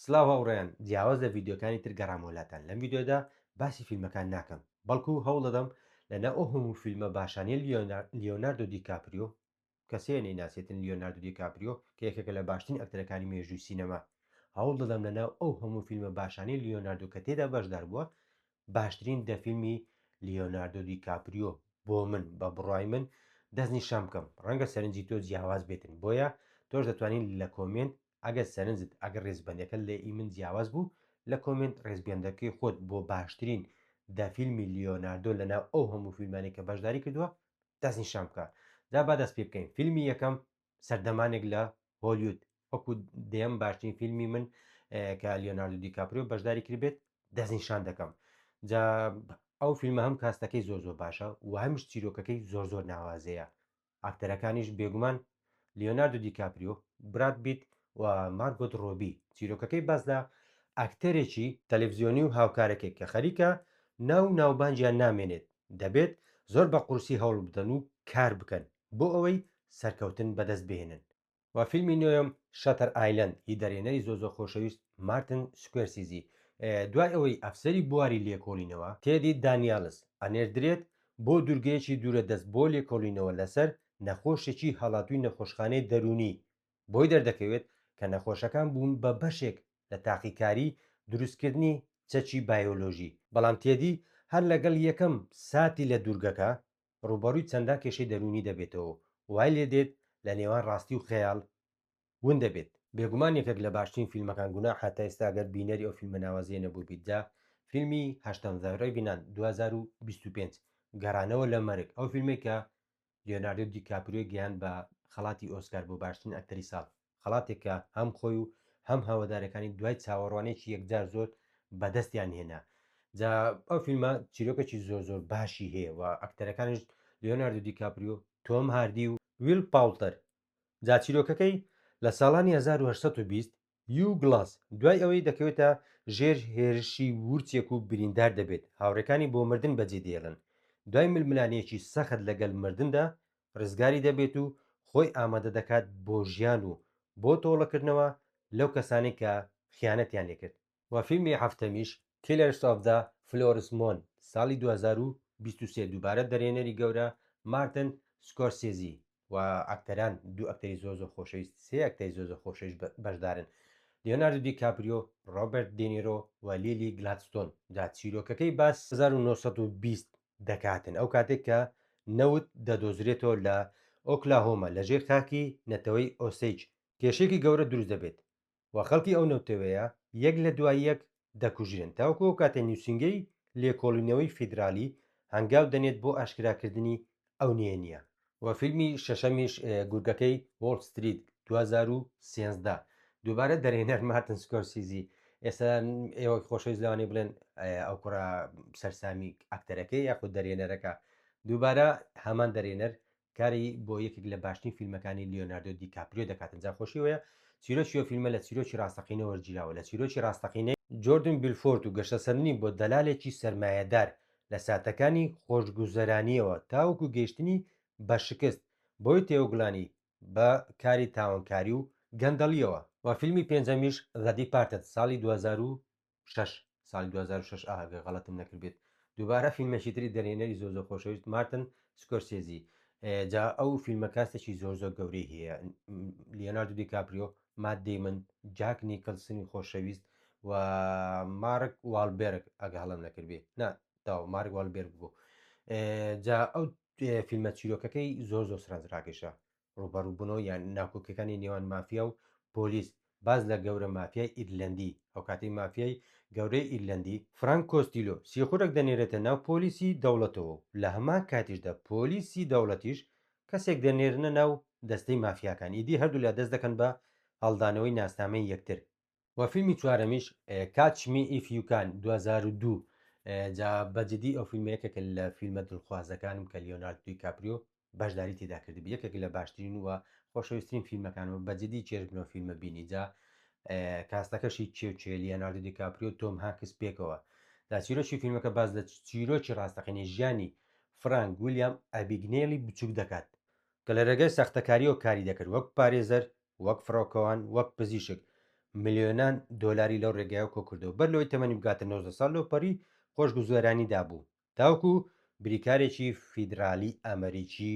سلاو هاوڕێیان جیاواز لە ڤیددیوکانی تر گەڕامەوە لاتان لەم ڤیددیودا باسی فیلمەکان ناکەم بەڵکو هەوڵ دەدەم لە ناو ئەو هەموو فیلمە باشانیە لیۆناردۆ دیکاپریۆ کەسەیە نەیناسێتن لیۆناردۆ دیکاپریۆ کە یەکێکە لە باشترین ئەکتەرەکانی مێژووی سینەما هەوڵ دەدەم لە ناو ئەو هەموو فیلمە باشانی لیۆناردۆ کە تێدا بەشدار بووە باشترین دە فیلمی لیۆناردۆ دی کاپریۆ بۆ من بە بڕای من دەست نیشان بکەم ڕەنگە سەرنجی تۆ جیاواز بێتن بۆیە تۆش دەتوانین لە کۆمنت ئەگەر سەرنجت ئەگەر ڕێزبەندەکە لە ئی من جیاواز بوو لە کۆمنت ڕێزبێندەکەی خۆت بۆ باشترین دە فیلمی لیۆناردۆ لە ناو ئەو هەموو فیلمانی کە بەشداری کردووە دەست نیشان بکە جا با دەست پێ بکەین فیلمی یەکەم سەردەمانێک لە هۆلیود وەکو دێم باشترین فیلمی من کە لیۆناردو دیکاپریۆ بەشداری کردبێت دەستنیشان دەکەم جا ئەو فیلمە هەم کاستەکەی زۆر زۆر باشە و هەمیش چیرۆکەکەی زۆر زۆر ناوازەیە ئاکتەرەکانیش بێگومان لیۆناردو دیکاپریۆ براد بیت و مارگۆت ڕۆبی چیرۆکەکەی باس لە ئاکتەرێکی تەلەڤزیۆنی و هاوکارەکەی کە خەریکە ناو ناوبانجیان نامێنێت دەبێت زۆر بە قورسی هەوڵ بدەن و کار بکەن بۆ ئەوەی سەرکەوتن بەدەست بهێنن. وە فیلمی نۆیەم شەتەر ئایلەند ی دەرێنەری زۆزۆ خۆشەویست مارتن سکۆرسیزی دوای ئەوەی ئەفسەری بواری لێکۆڵینەوە تێدی دانیالس ئەنێردرێت بۆ دورگەیەکی دورە دەست بۆ لێکۆڵینەوە لەسەر نەخۆشێکی هەڵاتوی نەخۆشخانەی دەرونی بۆی دەردەکەوێت کە نەخۆشەکان بوون بە بەشێک لە تاقیکاری دروستکردنی چەکی بایۆلۆژی بەڵام تێدی هەر لەگەڵ یەکەم ساتی لە دورگەکە ڕووبەڕووی چەندان کێشەی دەروونی دەبێتەوە و وای لێ دێت لە نێوان ڕاستی و خەیاڵ ون دەبێت. بێگومان یەکێک لە باشترین فیلمەکان گوناحە تا ئێستا گەر بینەری ئەو فیلمە ناوازەیە نەبووبیت جا فیلمی هەشتەم The Revenant دوو هەزار و بیست و پێنج گەڕانەوە لە مەرگ ئەو فیلمەی کە لیۆناردۆ دیکاپریۆی گەیاند بە خەڵاتی ئۆسکار بۆ باشترین ئەکتەری ساڵ خەڵاتێک کە هەم خۆی و هەم هەوادارەکانی دوای چاوەڕوانێکی یەکجار زۆر بەدەستیان هێنا جا ئەو فیلمە چیرۆکێکی زۆر زۆر باشی هەیە و ئەکتەرەکانیش لیۆناردو دیکاپریو تۆم هاردی و ویل پاولتەر جا چیرۆکەکەی لە ساڵانی 1820 یو گڵاس دوای ئەوەی دەکەوێتە ژێر هێرشی وورچێک و بریندار دەبێت هاوڕێکانی بۆ مردن بەجێدێڵن دوای ململانێیەکی سەخت لەگەل مردندا ڕزگاری دەبێت و خۆی ئامادە دەکات بۆ ژیان و بۆ تۆڵەکردنەوە لەو کەسانەی کە خیانەتیان لێکرد. و فیلمی هەفتەمیش Killers of the Flowers Moon ساڵی دوو هەزار و بیست و سێ دووبارە دەرێنەری گەورە مارتن سکۆرسێزی و ئەکتەران دوو ئەکتەری زۆر زۆر خۆشەویست سێ ئەکتەری زۆر زۆر خۆشەویست بەشدارن لیۆناردو دی کاپریۆ ڕۆبرت دینیرۆ و لیلی گلادستۆن جا چیرۆکەکەی باس هەزار و نۆ سەد و بیست دەکاتن ئەو کاتێک کە نەوت دەدۆزرێتەوە لە ئۆکلاهۆما لە ژێر خاکی نەتەوەی ئۆسەیج کێشەیەکی گەورە دروست دەبێت و خەڵکی ئەو نەوتەوەیە یەک لە دوای یەک دەکوژرێن تاوەکو ئەو کاتەی نوسینگەی لێکۆڵینەوەی فیدرالی هەنگاو دەنێت بۆ ئاشکراکردنی ئەو نهێنییە. و فیلمی شەشەمیش گورگەکەی وۆڵ ستریت 2013 دووبارە دەرێنەر مارتن سکۆرسیزی ئێستا ئێوە خۆشەویست لەوانی بڵێن ئەو کوڕە سەرسامی ئەکتەرەکەی یاخود دەرێنەرەکە دووبارە هەمان دەرێنەر کاری بۆ یەکێک لە باشترین فیلمەکانی لیۆناردۆ دیکاپریۆ دەکاتن جا خۆشی وەیە چیرۆکی فیلمە لە چیرۆکی ڕاستەقینە وەرگیراوە لە چیرۆکی ڕاستەقینەی جۆردن بیلفۆرت و گەشەسەندنی بۆ دەلالێکی سرمایهدار لە ساتەکانی خۆشگوزەرانییەوە تاوەکو گەیشتنی بە شکست، بۆی تێوەگلانی بە کاری تاوانکاری و گەندەڵییەوە. و فیلمی پێنجەمیش The Departed ساڵی دوو هەزار و شەش ساڵی دوو هەزار و شەش ئه گەر غەڵەتم نەکردبێت دووبارە فیلمێکی تری دەرهێنەری زۆر زۆر خۆشەویست مارتن سکۆرسێزی جا ئەو فیلمە کاستێکی زۆر زۆر گەورەی هەیە لیۆناردو دیکاپریۆ مات دەیمن، جاک نیکلسنی خۆشەویست و مارک والبێرگ ئەگە هەڵم نەکردبێ نا تاو مارک والبێرگ بوو جا ئەو فیلمە چیرۆکەکەی زۆر زۆر سرنجڕاکێشە ڕوبەڕووبوونەوە یان ناکۆکەکانی نێوان مافیا و پۆلیس باز لە گەورە مافیای ئیرلندی ئەو کاتی مافیای گەورەی ئیرلندی فرانک کۆستیلۆ سیخورەک دەنێرێتە ناو پۆلیسی دەوڵەتەوە و لە هەمان کاتیشدا پۆلیسی دەوڵەتیش کەسێک دەنێرنە ناو دەستەی مافیاکان ئیدی هەردوولا دەست دەکەن بە هەڵدانەوەی ناسنامەی یەکتر. وە فیلمی چوارەمیش Catch Me If You Can دوو هەزار و دوو جا بە جدی ئەو فیلمە یەکێکە لە فیلمە دڵخوازەکانم کە لیۆنارد دوی کاپریۆ بەشداری تیدا کردبی یەکێک لە باشترین وە خۆشەویسترین فیلمەکانمە بە جدی چێژ بنۆ فیلمە بینی جا کاستەکەشی کێ و کێ لیۆنارد دی کاپریۆ تۆم هانکس پێکەوە دا چیرۆکی فیلمەکە باز لە چیرۆکی ڕاستەقینەی ژیانی فرانک ویلیام ئەبیگنێلی بچووک دەکات، کە لە رێگای ساختەکارییەوە کاری دەکرد وەک پارێزەر، وەک فڕۆکەوان، وەک پزیشک، ملیۆنان دۆلاری لەو رێگایەوە کۆکردەوە، بەر لەوەی تەمەنی بگاتە نۆزدە ساڵ لەوپەڕی خۆشگوزەرانیدا بوو، تاوەکو بریکارێکی فیدرالی ئەمریکی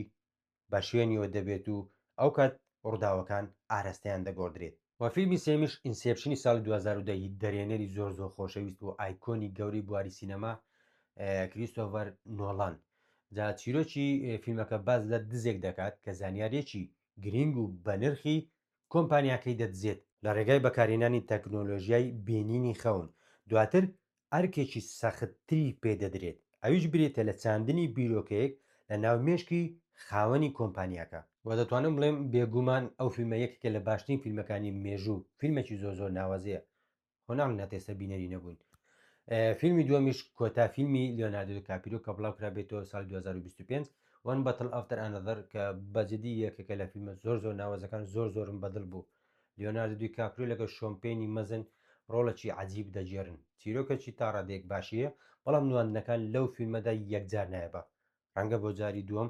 بە شوێنیەوە دەبێت و ئەو کات ڕووداوەکان ئارەستەیان دەگۆڕدرێت. وە فیلمی سێیەمیش ئینسێپشنی ساڵی دوو هەزار و دە ی دەرێنەری زۆر زۆر خۆشەویست و ئایکۆنی گەورەی بواری سینەما کریستۆڤەر نۆڵان جا چیرۆکی فیلمەکە باس لە دزێک دەکات کە زانیاریەکی گرینگ و بەنرخی کۆمپانیاکەی دەدزێت. لە ڕێگای بەکارهێنانی تەکنۆلۆژیای بینینی خەون، دواتر ئەرکێکی سەختتری پێ دەدرێت، ئەویش بریتیە لە چاندنی بیرۆکەیەک لە ناو مێشکی خاوەنی کۆمپانیاکە. وە دەتوانم بڵێم بێگوومان ئەو فیلمە یەکێکە لە باشترین فیلمەکانی مێژوو، فیلمێکی زۆر زۆر ناوەزەیە، خۆ نامناتێ سە بینەری نەبوون فیلمی دووەمیش کۆتا فیلمی لیۆناردۆ کاپیرو کە بڵاو کرابێتەوە سال 2025 وان بەتل ئەفتەر ئەنەدەر کە بەجددی یەکێکە لە فیلمە زۆر زۆر ناوەزەکان زۆر زۆرم بەدڵ بوو لیۆناردو دوی کاپرو لەگە شۆمپێنی مەزن ڕۆڵەکی عجیب دەگێرن چیرۆکەکی تا ڕادێک باشیە بەڵام نواندنەکان لەو فیلمەدا یەکجار نایبە ڕەنگە بۆ جاری دووەم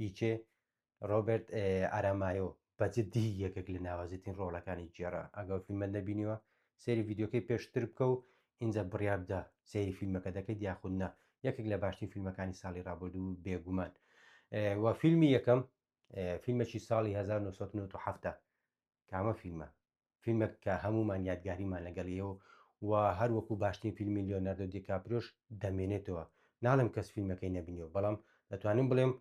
ئیچێ ڕۆبرت ئارامایۆ بە جدی یەکێک لە ناوازەترین ڕۆڵەکانی گێڕا ئەگەر فیلمە نەبینیوە سێری ڤیددیوکەی پێشتر بکە و ئینجا بڕیار بدە سێری فیلمەکە دەکەیت یاخود نا یەکێک لە باشترین فیلمەکانی ساڵی ڕابردوو بێگومان و فیلمی یەکەم فیلمێکی ساڵی 1970 کامە فیلمە فیلمێک کە هەمومان یادگاریمان لەگەڵ یەوە و هەر وەکو باشترین فیلمی لیۆناردۆ دیکاپریۆش دەمێنێتەوە ناڵێم کەس فیلمەکەی نەبینیەوە بەڵام دەتوانم بڵێم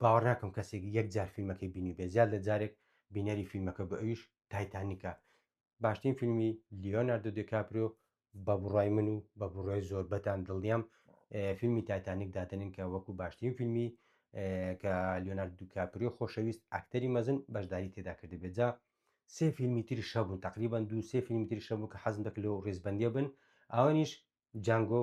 باوەڕ ناکەم کەسێک یەک جار فیلمەکەی بینی بێ زیاد لە جارێک بینەری فیلمەکە بە ئەویش تایتانیکە باشترین فیلمی لیۆناردۆ دیکاپریۆ بە بڕای من و بە بڕای زۆربەتان دڵنیام فیلمی تایتانیک دادنین کە وەکو باشترین فیلمی کە لیۆنارد دوکاپری خۆشەویست ئەکتەری مەزن بەشداری تێدا کرد بێت جا سێ فیلمی تری شەبوون تقریبان دوو سێ فیلمی تری شەبوو کە حەزم دەکرد لەو ڕێزبندیە بن ئەوانیش جانگۆ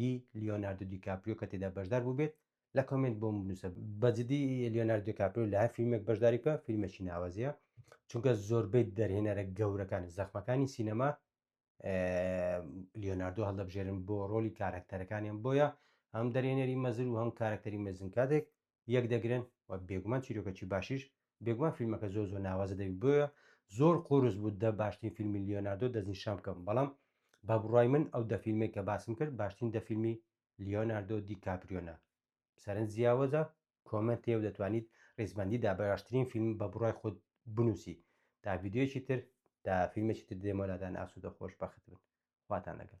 ی لیۆناردۆ دیکاپریۆ کە تێدا بەشدار بووبێت لە کۆمنت بۆم بنووسە بەجددی لیۆناردۆ دیکاپریۆ لە هەر فیلمێک بەشداری بکە فیلمێکی ناوازەیە چونکە زۆربەی دەرهێنەرە گەورەکان زەخمەکانی سینەما لیۆناردۆ هەڵدەبژێرن بۆ ڕۆلی کارەکتەرەکانیان بۆیە هەم دەرێنەری مەزر و هەم کارەکتەری مەزن کاتێک یەک دەگرن و بێگومان چیرۆکەکی باشیش بێگومان فیلمەکە زۆر زۆر ناوازە دەبی بۆیە زۆر قۆرس بوو دە باشترین فیلمی لیۆناردۆ دەستنیشان بکەم بەڵام بە بڕای من ئەو دە فیلمێک کە باسم کرد باشترین دە فیلمی لیۆناردۆ دی کاپریۆنا سەرنج جیاوەزە کۆمنت تێو دەتوانیت ڕیزبندی دا بەراشترین فیلم بە بڕای خۆت بنووسی تا ویددیوەکی تر تا فیلمێکی تر دێمەلادان ئاسوودە خۆش بەخت بن خواتان لەگەڵ